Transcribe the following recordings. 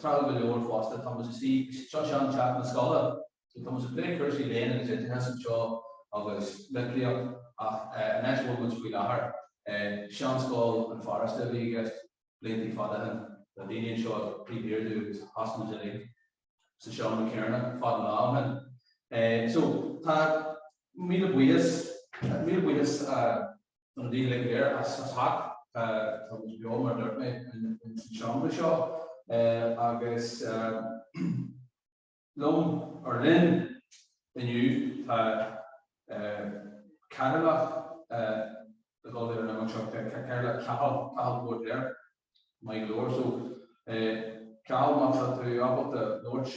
Tráthúil go leor fosta tá muid ag suí, seo sean teach na scoile, so tá muid ag plé cúrsaí léinn agus oideachais anseo agus litríocht ach an áit a bhfuil muid faoi láthair, sean scoil an Pharáiste a bhí i gceist blianta fada shin, tá daoine anseo ag plé méadú agus sheas muid uilig sa seomra céanna fad an lá ó shin. So tá míle buíochas, míle buíochas. daoibh uilig go léir as teacht, tá muid beo mar a dúirt mé in san seomra seo agus liom ar líne inniu tá Cathaoirleach ag dul ar an imeacht seo, Cathaoirleach Cathal Póirtéir, maith go leor. So Cathal má tá tú ábalta labhairt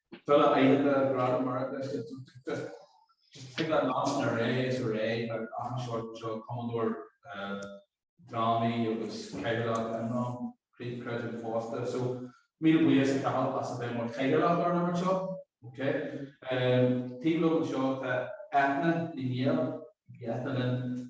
Tuilleadh aíochta, Gradam Mheiriceá is ea Tum Tigte. Thig leat nasc na ré is a ré agus achan seort anseo, cumadóir drámaí agus cathaoirleach IMRAM, creidim fosta. So, míle buíochas a Chathal as a bheith mar chathaoirleach orainn anseo. Ok. Taobh liom anseo tá Eithne Ní Néill. Eithne linn.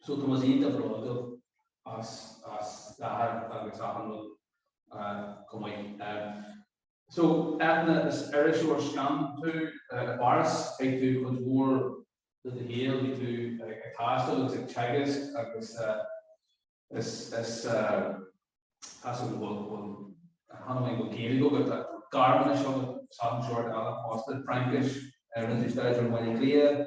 So tá muid iontach bródúil as d'athair agus achan rud chomh maith. So, Eithne, is iriseoir scannán tú. I bPáras chaith tú cuid mhór de do shaol, bhí tú ag taisteal agus ag teagasc agus is cosúil go bhfuil, bhfuil, chan amháin go bhfuil Gaeilge agat ach tá Gearmáinis agus achan sórt eile fosta, Fraincis, rinne tú staidéar i mBaile Átha Cliath,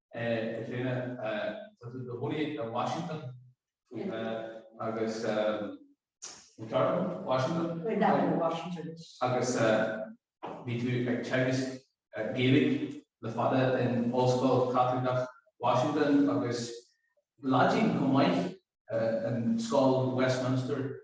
Caitríona, tá tú i do chónaí i Washington agus an ceart dom? Washington? Bhuel, nach bhfuil Washington. Agus bhí tú ag teagasc Gaeilge le fada in Ollscoil Chaitliceach Washington agus Laidin chomh maith in Scoil Westminster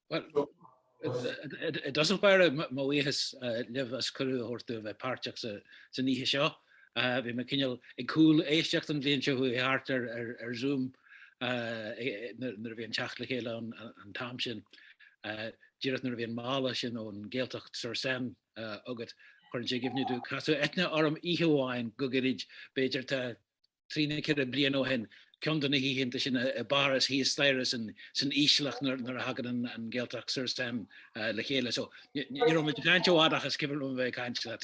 Bhuel, i dtús báire mo bhuíochas libh as cuireadh a thabhairt dúinn bheith páirteach san oíche seo. Bhí mé cineál ag cúléisteacht an bhliain seo chuaigh thart ar Zoom nuair a bhí an teacht le chéile ann an t-am sin. Díreach nuair a bhí an mála sin ón Gaeltacht sur Seine agat cuireann sé i gcuimhne domh casadh eithne orm oíche amháin go gairid b'fhéidir tá trí nó ceithre bliana ó shin, ceann de na hoícheanta sin i bPáras thíos staighre san ísleach nuair a thagann an Gaeltacht sur Seine le chéile. So ní raibh muid ag caint i bhfad ach is cuimhin liom a bheith ag caint leat.